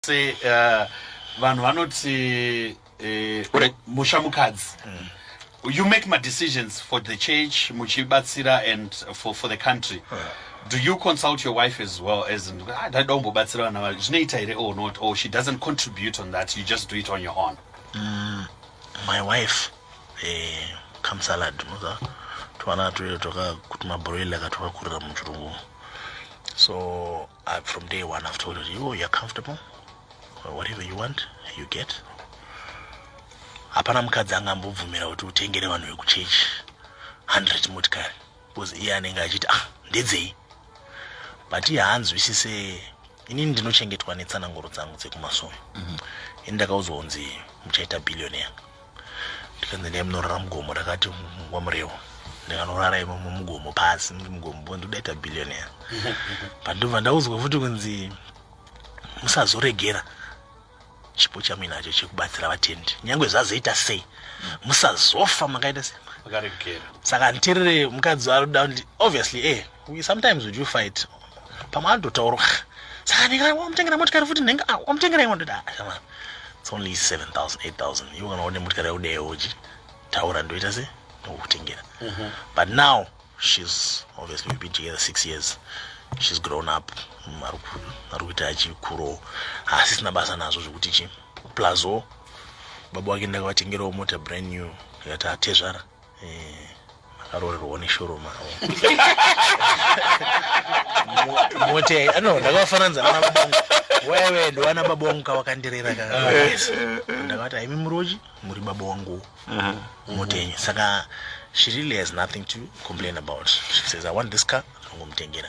se uh, vanhu vanoti uh, musha mukadzi mm. you make my decisions for the church muchibatsira and for, for the country uh. do you consult your wife as well as ah, ndaida kumbobatsira vana vavo zvinoita here or not or she doesn't contribute on that you just do it on your own mm, my wife eh, come salad muza twana tuyo toka kuti mabroiler katwakakurira muchirungu so Uh, from day one I've told you, oh, you're comfortable. Whatever you want, you get. Hapana mukadzi angambobvumira kuti utengere vanhu vekuchechi 100 motikari because iye anenge achiti ah ndedzei but iye haanzwisise inini ndinochengetwa netsananguro dzangu dzekumasomo mm -hmm. ini ndakaudzwa kunzi muchaita billionaire ndikanzi ndai munorara mugomo ndakati wamurewo ndikanorara imo mumugomo pasi mugomo bo ndoda ita billionaire pandobva ndaudzwa futi kunzi musazoregera chipo chamuinacho chekubatsira vatendi nyange zvazoita sei musazofa makaita sei saka nditerere mukadzi waruda obviously e eh, We sometimes we do fight. Pamwe anototaura. Saka ndinga wamutengera motikari futi ndinga ah, wamutengera imwe ndoda. Ah, It's only 7000 8000. Iwe kana une motikari yaude yoji. Taura ndoita se ndokutengera. Mhm. But now she's obviously we've been together 6 years. She's grown up. Mm, ari ku- ari kuita chikuro. Asisina basa nazvo zvekuti chi. Plazo baba wake ndakavatengerawo mota brand new yakati atezvara akaroorerwawo neshoro mavo moti no ndakafananidza nana babongo wewe ndowana baba wangu kawakandirera ka ndakati haimi muroji muri baba wangu moti yenyu saka she really has nothing to complain about she says i want this car ndongomutengera